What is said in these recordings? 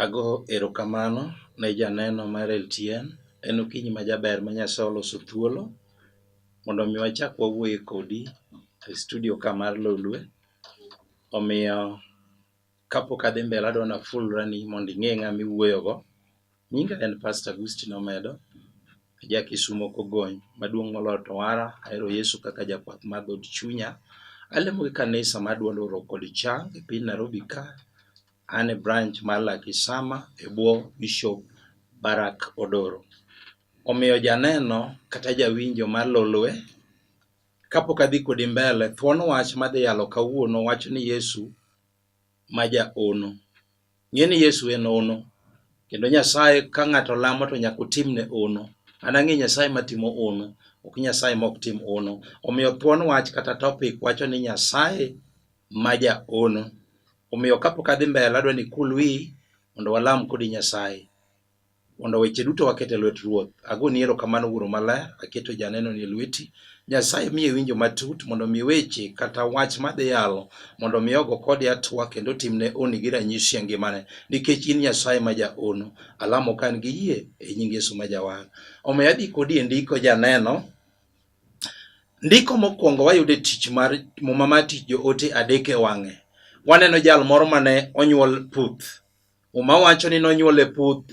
Ago erokamano ne janeno mar LTN, en okinyi ma jaber ma Nyasaye oloso thuolo mondo mi wachak wawuoye kodi e studio ka mar Lolwe. Omiyo kapok adhi mbele adwa ni afulra ni mondo ing'e ng'ama iwuoyo go. Nyinga en Pastor Agustino Omedo, aja Kisumo Kogony, maduong' moloyo to wara, ahero Yesu kaka jakwath mar dhood chunya. Alemo gi kanisa mar duond oro kod chang e piny Nairobi ka. An e branch mar Lakisama e bwo Bishop Barak Odoro. Omiyo janeno kata jawinjo mar Lolwe, Kapok adhi kodi mbele, thuon wach madhi yalo kawuono wacho ni Yesu ma ja ono. Ng'e ni Yesu en ono. Kendo Nyasaye ka ng'ato lamo to nyaka otimne ono. An ang'e Nyasaye matimo ono, ok Nyasaye ma ok tim ono. Omiyo thuon wach kata topic wacho ni Nyasaye ma ja ono. Omiyo kapok adhi mbele adwa ni ikul wiyi mondo walam kodi Nyasaye. Mondo weche duto waket e lwet Ruoth. Agoni erokamano Wuoro Maler, aketo janenoni e lweti. Nyasaye miye winjo matut mondo mi weche kata wach madhi yalo mondo mi ogo kode atwa kendo timne oni gi ranyisi e ngimane nikech in Nyasaye ma jaono. Alamo ka an gi yie e nying Yesu ma jawar. Omiyo adhi kodi e ndiko janeno. Ndiko mokwongo wayudo e tich mar muma mar tich joote adek e wang'e. Waneno jal moro mane onyuol puth Muma wacho ni nonyuol e puth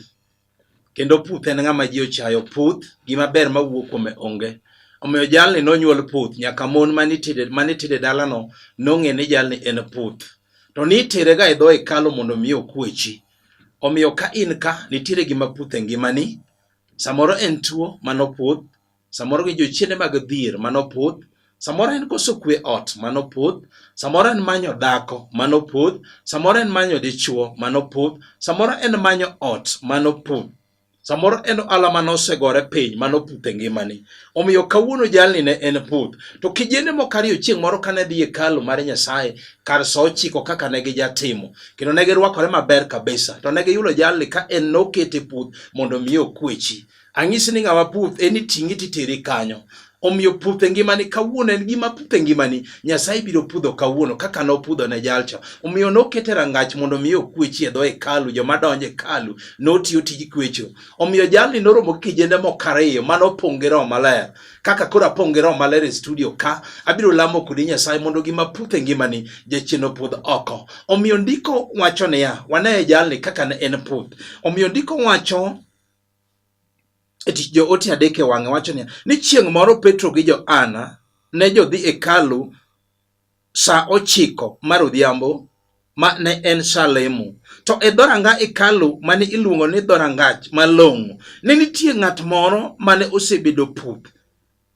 kendo puth en ng'ama ji ochayo puth gima ber ma wuok kuome onge omiyo jalni nonyuol puth nyaka mon manitire dalano nong'e ni jalni en puth to nitire ga e dho hekalu mondo mi okwechi omiyo ka in ka nitiere gima puth e ngimani samoro en tuo mano puth samoro gi jochiende mag dhier manopodh samoro en koso kwe ot manopodh samoro en manyo dhako manopodh samoro en manyo dichuo manopodh samoro en manyo ot manopodh samoro en ala manosegore piny manopudh e ngimani omiyo kawuono jalni ne en puth to kijende moko ariyo chieng' moro kane dhi e kalu mar nyasaye kar sa ochiko kaka ne gijatimo kendo ne girwakore maber kabisa to ne giyudo jalni ka en nokete puth mondo miye okwechi Ang'isi ni ng'ama puth en iting'e titere kanyo. Omiyo puth e ngimani kawuono en gima puth e ngimani Nyasaye biro pudho kawuono kaka nopudho ne jalcha. Omiyo nokete rangach mondo mi okwechi e dho hekalu joma donjo hekalu notiyo tij kwecho. Omiyo jalni noromo gi kijende moko ariyo mane opong' gi roho maler. Kaka koro apong' gi roho maler e studio ka abiro lamo kodi Nyasaye mondo gima puth e ngimani jachien opudh oko. Omiyo ndiko wacho niya, wane jalni kaka ne en puth. Omiyo ndiko wacho e tich joote adek e wang'e wacho niya ni chieng' moro Petro gi Johana ne jodhi e hekalu sa ochiko mar odhiambo ma ne en sa lemo. To e dhoranga hekalu mane iluongo ni dhorangach malong'o, ne nitie ng'at moro mane osebedo puth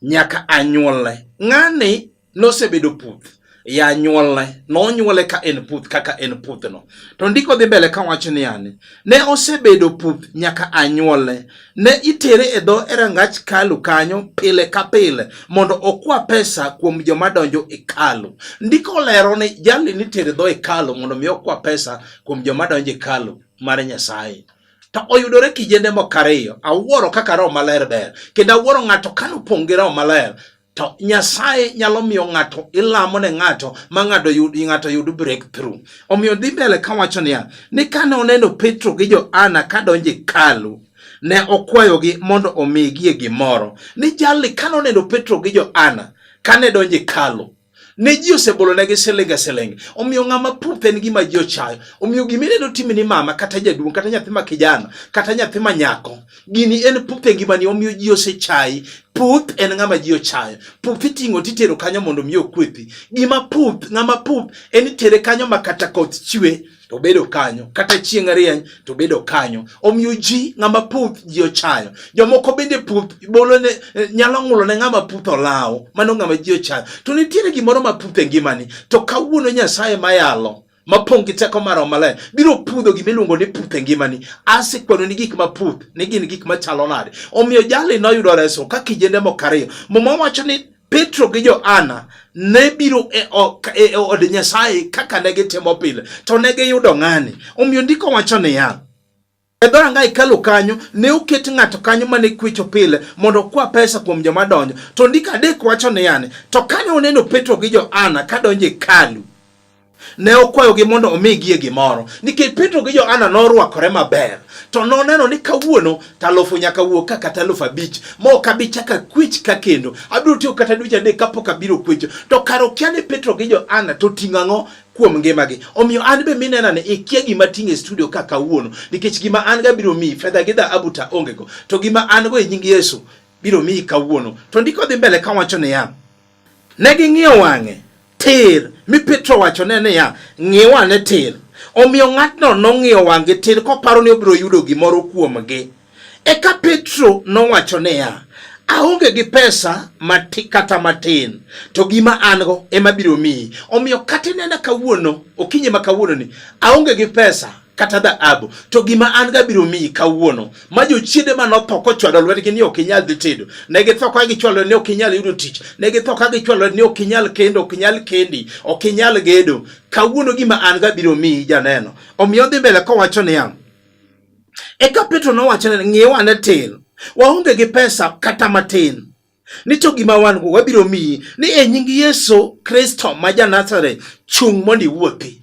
nyaka anyuolne. Ng'ani nosebedo puth ya anyuolne, nonyuole ka en puth kaka en puthno. To ndiko dhi mbele ka wacho ni yani, ne osebedo puth nyaka anyuolne. Ne itere e dho e rangach kalu kanyo pile ka pile mondo okwa pesa kuom joma donjo e kalu. Ndiko lero ni jali nitere dho e kalu mondo mi okwa pesa kuom joma donjo e kalu mar Nyasaye. to oyudore kijende moko ariyo awuoro kaka roho maler ber kendo awuoro ng'ato kane opong' gi roho maler to nyasaye nyalo miyo ng'ato ilamo ne ng'ato ma ng'ato yud ng'ato yud breakthrough omiyo dhi mbele kawacho niya ni kane oneno petro gi joana kadonjo e kalu ne okwayogi mondo omigie gimoro ni jalni kane oneno petro gi joana kane donjo e kalu ne ji osebolonegi siling e siling. Omiyo ng'ama puth en gima ji ochayo. Omiyo gima ineno timi ni mama kata jaduong' kata nyathi ma kijana kata nyathi ma nyako, gini en puth e ngimani omiyo ji osechayi. Puth en ng'ama ji ochayo. Puth iting'o titero kanyo mondo mi okwethi. Gima puth, ng'ama puth en itere kanyo ma kata koth chwe to bedo kanyo kata chieng' arieny to bedo kanyo omiyo ji ng'ama puth ji ochayo jomoko bende puth bolo ne eh, nyalo ng'ulo ne ng'ama puth olawo mano ng'ama ji ochayo to nitiere gimoro ma puth e ngimani to kawuono nyasaye mayalo mapong' gi teko mar maler biro pudho gima iluongo ni puth e ngimani asekwano ni gik maputh ni gin gik machalo nade omiyo jali noyudo reso ka kijende moko ariyo muma wacho ni Petro gi Johana ne biro e, e, e od Nyasaye kaka ne gitimo pile, to ne giyudo ng'ani. Omiyo ndiko wacho niya, e dhoranga hekalu kanyo ne oket ng'ato kanyo mane kwecho pile mondo okwa pesa kuom joma donjo. To ndiko adek wacho niya, to kane oneno Petro gi Johana kadonjo e hekalu Ne okwayogi mondo omigie gimoro, nikech Petro gi Johana norwakore maber, to noneno ni kawuono talufu nyaka wuok ka kata alufu abich, ma ok abi chako akwech ka kendo. Abiro tiyo kata dweche adek kapok abiro kwecho. To kare okia ni Petro gi Johana to ting'o ang'o kuom ngimagi. Omiyo an be minena ni ikia gima ting' e studio ka kawuono, nikech gima an ga biro miyi, fedha gi dhahabu ta ongego, to gima an go e nying Yesu biro miyi kawuono. To ndiko dhi mbele kawacho niya, Ne ging'iyo wang'e tir, mi Petro wachone niya, Ng'iwa ane tir. Omiyo ng'atno nong'iyo wang'gi tir koparo ni obiro yudo gimoro kuomgi. Eka Petro nowacho niya, aonge gi pesa mati, kata matin to gima an go ema biro miyi. Omiyo kata inena kawuono, okinyi ma kawuononi, aonge gi pesa kata dhahabu, to gima an ga biro miyi kawuono. Ma jochiende ma notho kochwado lwetgi ni ok inyal dhi tedo, ne githo ka gichwalo ni ok inyal yudo tich, ne githo ka gichwalo ni ok inyal kendo, ok inyal kendi, ok inyal gedo. Kawuono gima an ga biro miyi janeno. Omiyo dhi mbele kowacho niya, eka Petro nowacho ne ng'iew ane tin, waonge gi pesa kata matin ni to gima wan go wabiro miyi ni e nying Yesu Kristo ma ja Nazareth, chung' mondo iwuothi.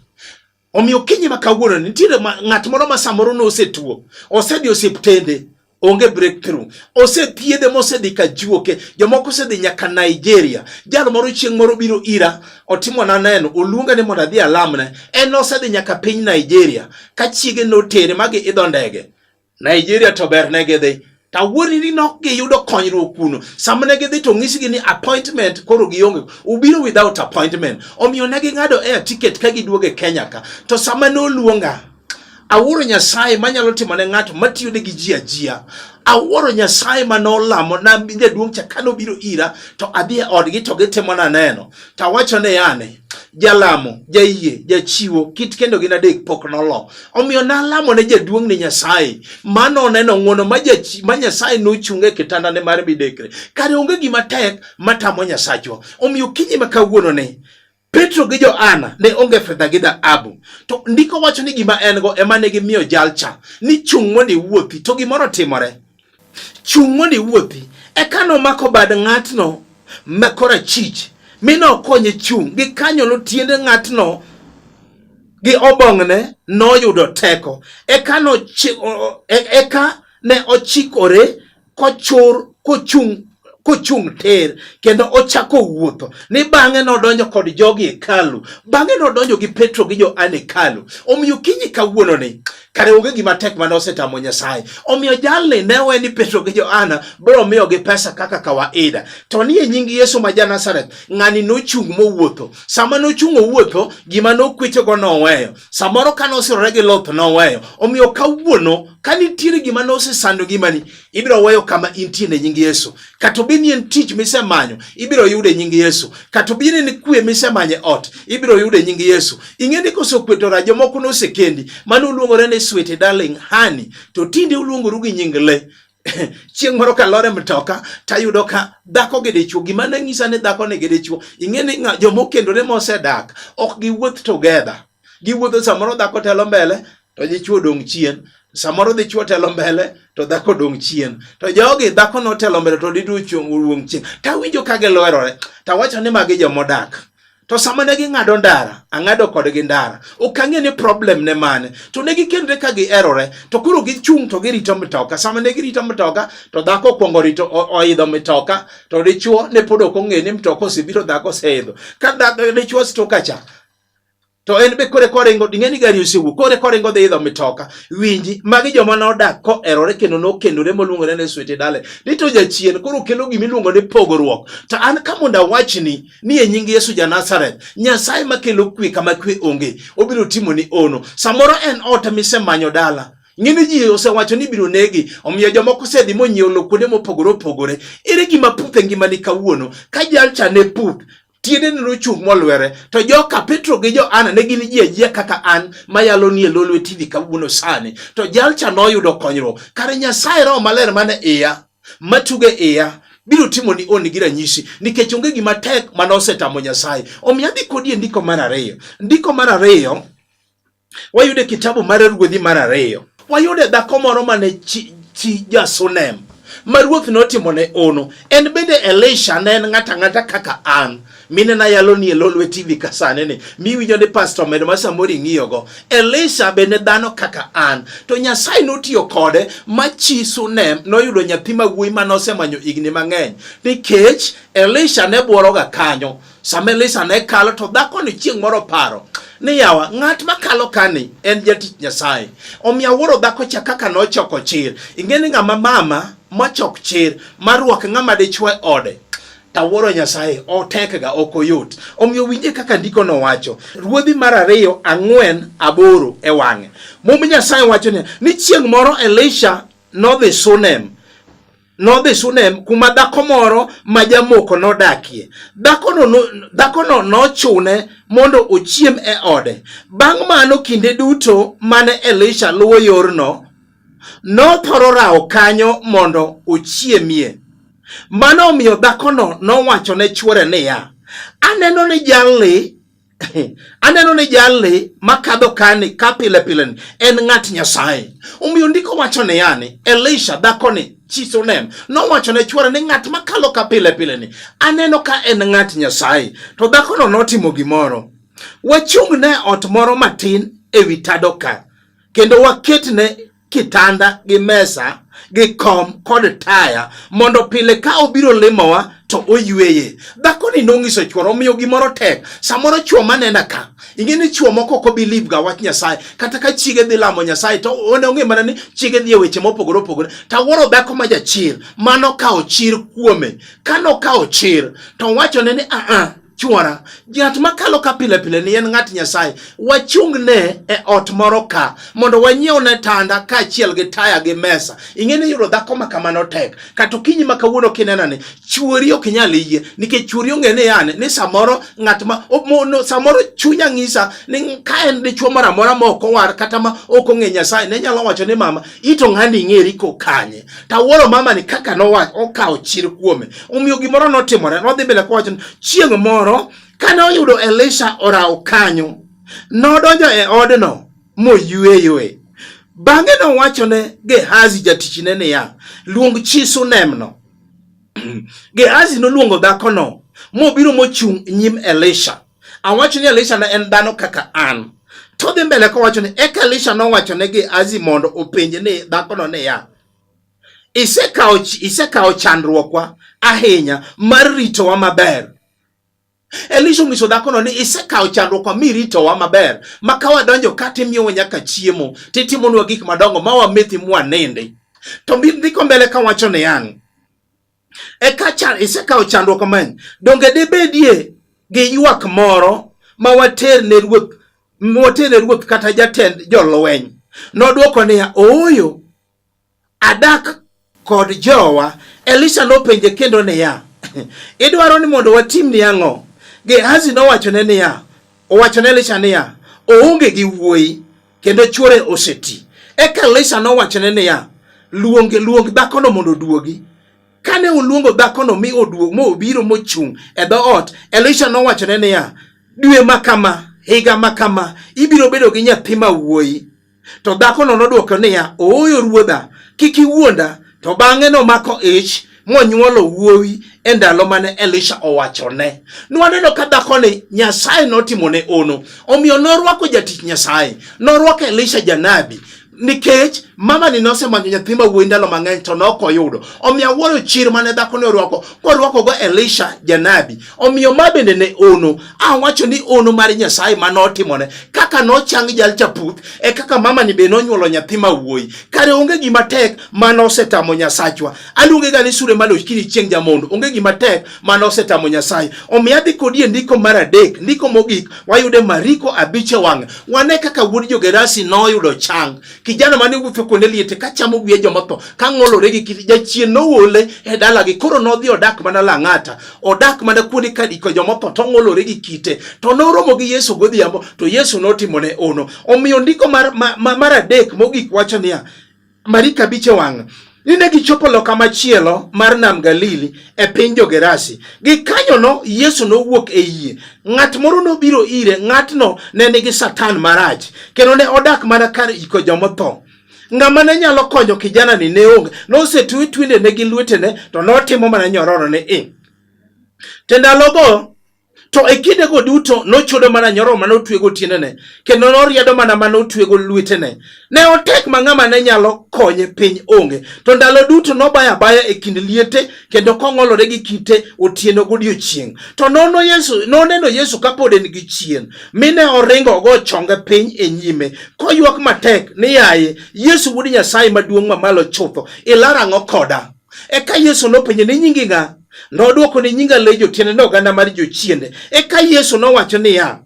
Omiyo kinyi ma kawuono nitiere ng'at moro ma samoro ne osetuo, osedhi osiptende, onge breakthrough, osethiedhe mosedhi ka juoke, jomoko osedhi nyaka Nigeria. Jal moro chieng' moro biro ira, otimo na neno, oluonga ni mondo adhi alamne. En osedhi nyaka piny Nigeria, ka chiege notere ma giidho ndege. Nigeria to ber ne gidhi to awuoni ni nok giyudo konyruok kuno sama ne gidhi to nyisgi ni appointment koro gionge ubiro without appointment omiyo ne ging'ado air ticket ka giduogo e Kenya ka to sama ne oluonga awuoro Nyasaye manyalo timo ne ng'ato matiyo ne gi ji ajia awuoro Nyasaye ma nolamo na jaduong' cha kano biro ira to adhi e odgi to gitimo na neno to awacho ne yane jalamo jayie jachiwo kit kendo gin adek pok nolo omiyo nalamo ne jaduong' ne nyasaye mano oneno ng'wono ma nyasaye nochunge e kitandane mar midekre kare onge gima tek matamo nyasachwa omiyo kinyi ma kawuono ne Petro gi Johana ne onge fedha gi dhahabu, to ndiko wacho ni gima en go ema ne gimiyo jalcha ni chung' mondo iwuothi, to gimoro timore. Chung' mondo iwuothi. Eka nomako bad ng'atno ma korachich mi nokonye chung' gi kanyo notiende ng'atno gi obong'ne noyudo teko eka e, eka ne ochikore kochur kochung' kochung' ter kendo ochako wuotho ni bang'e nodonjo kod jogi e hekalu bang'e nodonjo gi petro gi joan e hekalu omiyo kinyi kawuono ni kare onge gima tek mane osetamo nyasaye omiyo jalni ne we ni petro gi joana biro miyogi pesa kaka kawaida to ni e nying yesu ma janazareth ng'ani nochung' mowuotho sama nochung' owuotho gima nokwechogo noweyo samoro ka nosirore gi loth noweyo omiyo kawuono ka nitiere gima nosesandogi mani ibiro weyo kama intie ne nying Yesu. Kata obi ni en tich misemanyo, ibiro yude nying Yesu. Kata obi ni kwe misemanye ot, ibiro yude nying Yesu. Ing'e ni kosekwetora jomoko nosekendi, mano uluongore ni sweet darling honey, to tinde uluongoru gi nying le chieng' moro kalore mtoka tayudo ka dhako gi dichwo gima ne nyisa ni dhako ni gi dichwo ing'e ni jomokendore mosedak ok giwuoth together giwuotho samoro dhako telo mbele to dichwo dong' chien samoro dichwo telo mbele to dhako dong' chien to jogi dhako notelo mbele to dichwo chung' wuong' chien tawinjo ka giloerore tawacho ni magi jomodak to sama ne ging'ado ndara ang'ado kodgi ndara ok ang'e ni problem ne mane to ne gikendre ka giherore to koro gichung' to girito mitoka sama ne girito mitoka to dhako okwongo rito oidho mitoka to dichwo ne pod ok ong'e ni mitoka osebiro dhako oseidho ka dichwo stokacha to en be kore koringo ding'e ni gari osewuok kore koringo dhi idho mitoka winji magi joma nodak koerore kendo nokendore moluongore ni swete dale ni to jachien koro kelo gima iluongo ni pogruok to an ka mondo awachni ni e nying yesu ja nazareth nyasaye makelo kwe kama kwe onge obiro timo ni ono samoro en ot misemanyo dala ng'eni ji osewacho ni biro negi omiyo jomoko osedhi monyiewo lo kuonde mopogore opogore ere gima puth e ngimani kawuono ka jalcha ne puth tiende ne nochung' molwere to joka petro gi joana ne gin ji ajia kaka an mayalo nie lo lwetini kawuono sani to jalcha noyudo konyruok kare nyasaye roho maler mane iya matuge iya biro timo ni oni gi ranyisi nikech onge gima tek mane osetamo nyasaye omiyo adhi kodi e ndiko mar ariyo ndiko mar ariyo Wayude kitabu mar Ruodhi mar ariyo. Wayude dhako moro mane chi, chi Jasunem ma ruoth notimone ono. En bende Elisha ne en ng'ata ng'ata kaka an mine na yalo ni elo lweti vi kasane ni mi winjo ni pastor medo ma samori ng'iyo go Elisha bende dhano kaka an to Nyasaye notiyo kode ma chi Sunem noyudo nyathi ma wuoyi ma nosemanyo igni mang'eny nikech Elisha ne bworoga kanyo Sama Elisha ne kalo to dhakoni chieng' moro paro ni yawa ng'at makalo kani en jatich Nyasaye. Omiyo awuoro dhako cha kaka nochoko chir. Ing'e ni ng'ama mama mochok chir marwak ng'ama dichwe ode tawuoro Nyasaye otekga ok oyot. Omiyo winje kaka ndiko nowacho, ruodhi mar ariyo ang'wen aboro e wang'e. Mumb Nyasaye wacho ni chieng' moro Elisha nodhi Sunem nodhi Shunem kuma dhako moro ma jamoko nodakie. Dhakono dhakono nochune mondo ochiem e ode. Bang' mano kinde duto mane Elisha luwo yorno, nothoro rawo kanyo mondo ochiemie. Mano omiyo dhakono nowacho ne chwore niya, aneno ni jalni aneno ni jalni makadho kani ka pile pile ni en ng'at Nyasaye. Omiyo ndiko wacho ni yani Elisha dhakoni chi Sunem nowacho ne chwore ni ng'at makalo ka pile pile ni aneno ka en ng'at Nyasaye. To dhakono notimo gimoro. Wachung' ne ot moro matin ewi tado ka kendo waketne kitanda gi mesa gi kom kod taya mondo pile ka obiro limowa to oyweye dhakoni nong'iso chwore omiyo gimoro tek samoro chwo manena ka ing'e ni chwo moko ok obi libga wach nyasaye kata ka chiege dhi lamo nyasaye to one ong'e mana ni chiege dhi e weche mopogore opogore to awuoro dhako ma jachir mano kawo chir kuome ka nokawo chir to wachone ni aa Chwora, ng'at makalo ka pile pile ni en ng'at Nyasaye, wachung'ne e ot moro ka mondo wanyiewne tanda kaachiel gi taya gi mesa. Ing'eni yudo dhako ma kamano tek. Kata okinyi ma kawuono kinenani, chwori ok nyal yie nikech chwori ong'e ni yani ni samoro ng'at ma no, samoro chunya ng'isa ni ka en dichwo moro amora ma ok owar kata ma ok ong'e Nyasaye ne nyalo wacho ni mama ito ng'ani ing'eri kokanye. Tawuoro mama ni kaka nowacho okawo chir kuome. Omiyo gimoro notimore, nodhi mbele kowacho ni chieng' moro kane oyudo Elisha orawo kanyo, nodonjo e odno moyweyoe. Bang'e nowachone Gehazi jatichne niya, luong chi Sunemno. Gehazi noluongo dhakono mobiro mochung' nyim Elisha. Awacho ni Elisha ne en dhano kaka an. Todhi mbele kowacho ni eka Elisha nowacho ne Gehazi mondo openje ni dhakono niya, Isekawo isekawo chandruokwa ahinya mar ritowa maber. Elisha onyiso dhakono ni isekawo chandruokwa miritowa maber ma ka wadonjo ka timiyowa nyaka chiemo titimonwa gik madongo ma wamethi mwanindi. To ndiko mbele ka wacho ni ang' eka chan, isekawo chandruok mang'eny. Donge dibedie gi ywak moro ma water ne ruoth water ne ruoth kata jatend jolweny? Nodwoko niya, ooyo Adak kod jowa. Elisha nopenje kendo niya, idwaro ni mondo watimni ang'o? Gehazi nowachone niya, owachone Elisha niya, oonge gi wuoyi kendo chwore oseti. Eka Elisha nowachone niya, luong luong dhakono mondo oduogi. Kane oluongo dhakono mi oduog mo obiro mochung' e dhoot, Elisha nowachone niya, dwe ma kama higa ma kama ibiro bedo gi nyathi ma wuoyi To dhakono nodwoko niya, Ooyo ruodha, kik iwuonda. To bang'e nomako ich monyuolo wuowi e ndalo mane Elisha owachone. Nwaneno ka dhakoni Nyasaye notimone ono, omiyo norwako jatich Nyasaye, norwako Elisha janabi nikech mama ni nosemanyo nyathi ma wuoyi ndalo mang'eny to ne ok oyudo. Omiyo awuoro chir mane dhakoni orwako, korwakogo Elisha janabi. Omiyo ma bende ne ono, awacho ni ono mar Nyasaye ma notimone. Kaka nochang jal chaputh, e kaka mamani be nonyuolo nyathi ma wuoyi. Kare onge gima tek ma nosetamo Nyasachwa. Aluonge ga ni sure maloch kini chieng' jamondo. Onge gima tek ma nosetamo Nyasaye. Omiyo adhi kodi e ndiko mar adek, ndiko mogik, wayude Mariko abich e wang'e. Wane kaka wuod Jogerasi noyudo chang. Kijana mane wuotho kuonde liete ka chamo wiye jomotho, ka ng'olore gi kit jachien nowole e dalagi. Koro nodhi odak mana Lang'ata. odak mana kuonde ka diko jomotho to ong'olore gi kite to noromo gi Yesu godhiambo to Yesu notimone ono. Omiyo ndiko mar, mar, mar adek mogik wacho niya marika biche wang' ni ne gichopo loka machielo mar nam Galili e piny Jogerasi. Gikanyono Yesu nowuok e yie. Ng'at moro nobiro ire, ng'atno ne nigi satan marach, kendo ne odak mana kar iko jomotho. Ng'ama ne nyalo konyo kijana ni ne onge. Nosetwe twende ne gi lwetene to notimo mana nyororo ni i. Te ndalogo to e kindego duto nochodo mana nyororo mane otwego tiendene kendo noriedo mana mane otwego lwetene. Ne otek ma ng'ama ne nyalo konye piny onge. To ndalo duto nobaya baya e kind liete kendo kong'olore gi kite otieno godiechieng'. To nono Yesu, noneno Yesu kapod en gi chien, mine oringo ogo chonge piny e nyime, koywak matek ni yaye, Yesu wuod Nyasaye maduong' mamalo chutho, ilar ang'o koda? Eka Yesu nopenje ni nyingi ng'a? Nodwoko ni nyinga Lejo, tiende ni oganda mar jochiende. Eka Yesu nowacho niya,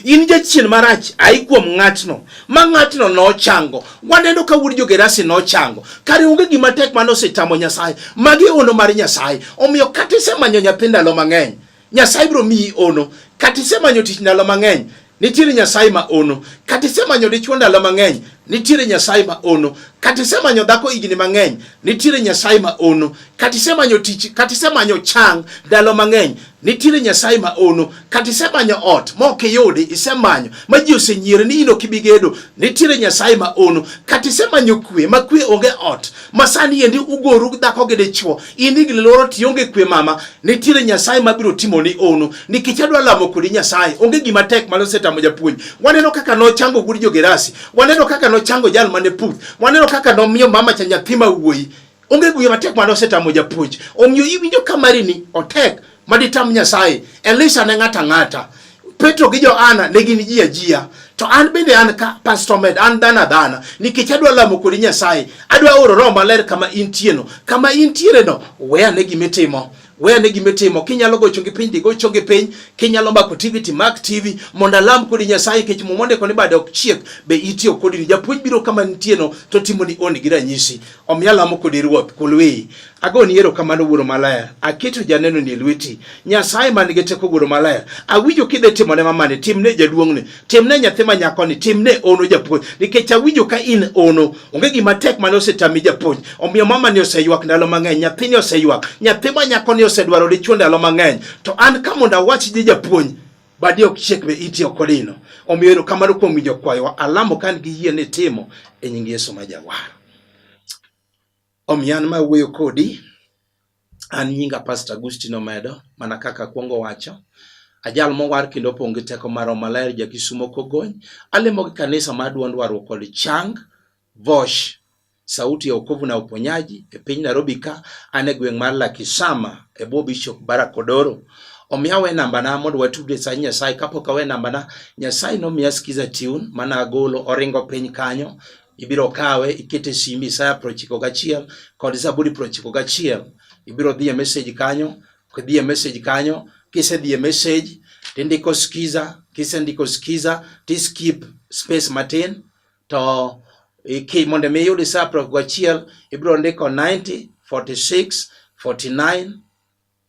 in jachien marach ayi kuom ng'atno ma ng'atno nochango waneno ka wuod jogerasi nochango kare onge gima tek mane osetamo nyasaye magi ono mar nyasaye omiyo kata isemanyo nyathi ndalo mang'eny nyasaye biro miyi ono kata isemanyo tich ndalo mang'eny nitiere nyasaye ma ono kata isemanyo dichwo ndalo mang'eny nitiere nyasaye ma ono kata isemanyo dhako higni mang'eny nitiere nyasaye ma ono kata isemanyo tich kata isemanyo chang ndalo mang'eny nitiere nyasaye ma ono kata isemanyo ot ma ok iyudi isemanyo ma ji osenyiere ni in ok ibi gedo nitiere nyasaye ma ono kata isemanyo kwe ma kwe onge ot Masani endi ugoru dhako gi dichwo, in igni loro ti onge kwe mama, nitiere Nyasaye mabiro timo ni ono. Nikech adwa lamo kodi Nyasaye, onge gima tek mane osetamo japuonj. Waneno kaka nochango gudo jogerasi, waneno kaka nochango jal mane puth, waneno kaka nomiyo mama cha nyathi ma wuoyi. Onge gima tek mane osetamo japuonj. Omiyo iwinjo ka mari ni otek. maditam Nyasaye. Elisha ne ng'ata ng'ata. Petro gi Johana ne gin ji ajia. To an bende an ka Pastor Med, an dhana dhana. Nikech adwa lamo kodi Nyasaye. Adwa oro roho maler kama intieno. Kama intiere no, we ane gimitimo. We ane gimitimo. Kinyalo gocho gi piny, digocho gi piny. Kinyalo mako TV, timak TV. Mondo alam kodi Nyasaye, kech muma ondiko ni bade ok chiek, be itiyo kodi ni. Japuonj biro kama intieno, to timo ni oni gi ranyisi. Omiyo alamo kodi Ruoth, kulwei. Agoni erokamano Wuoro Maler, aketo janeno ni e lweti. Nyasaye man gi teko Wuoro Maler, awinjo kidhe timone mamani, timne jaduong'ni, timne nyathi ma nyakoni, timne ono japuonj, nikech awinjo ka in ono, onge gima tek mane osetami japuonj. Omiyo mamani oseywak ndalo mang'eny, nyathini oseywak, nyathi ma nyakoni osedwaro dichwo ndalo mang'eny, to an ka mondo awach ni japuonj badi ok chiek be iti ok olino. Omiyo erokamano kuom winjo kwayowa, alamo ka an gi yie ni timo e nying Yesu ma Jawar. Omiyo an ma wuoyo kodi, an nyinga Pastor Agustino Medo, mana kaka akwongo wacho. Ajal mowar kendo opong' gi teko mar Roho Maler, ja Kisumo Kogony. Alemo gi kanisa mar Duond Warruok kod Chang, Vosh, Sauti ya Wokovu na Uponyaji e piny Nairobi ka, an e gweng' mar Lakisama e bwo Bishop Barak Odoro. Omiyo awe nambana mondo watudre sa Nyasaye. Kapok awe nambana, Nyasaye nomiya Skiza Tune mane agolo, oringo piny kanyo. ibiro kawe ikete simbi Isaya prochiko gachiel kod Zaburi prochiko gachiel ibiro dhie message kanyo kidhie message kanyo kisedhie message tindiko skiza kisendiko skiza tiskip space matin to iki mondo mi iyud Isaya prochiko gachiel ibiro ndiko 90 46 49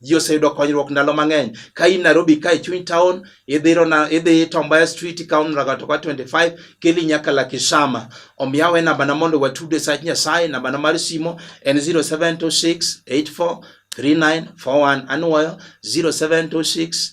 ji oseyudo konyruok ndalo mang'eny ka in Nairobi ka e chuny town idhiro na idhi Tombaya Street ikawo Mlagato kwa 25 keli nyaka Lakisama omiyo awe namba na mondo watude sach Nyasaye namba na mar simo en 0726843941 anuoyo 0726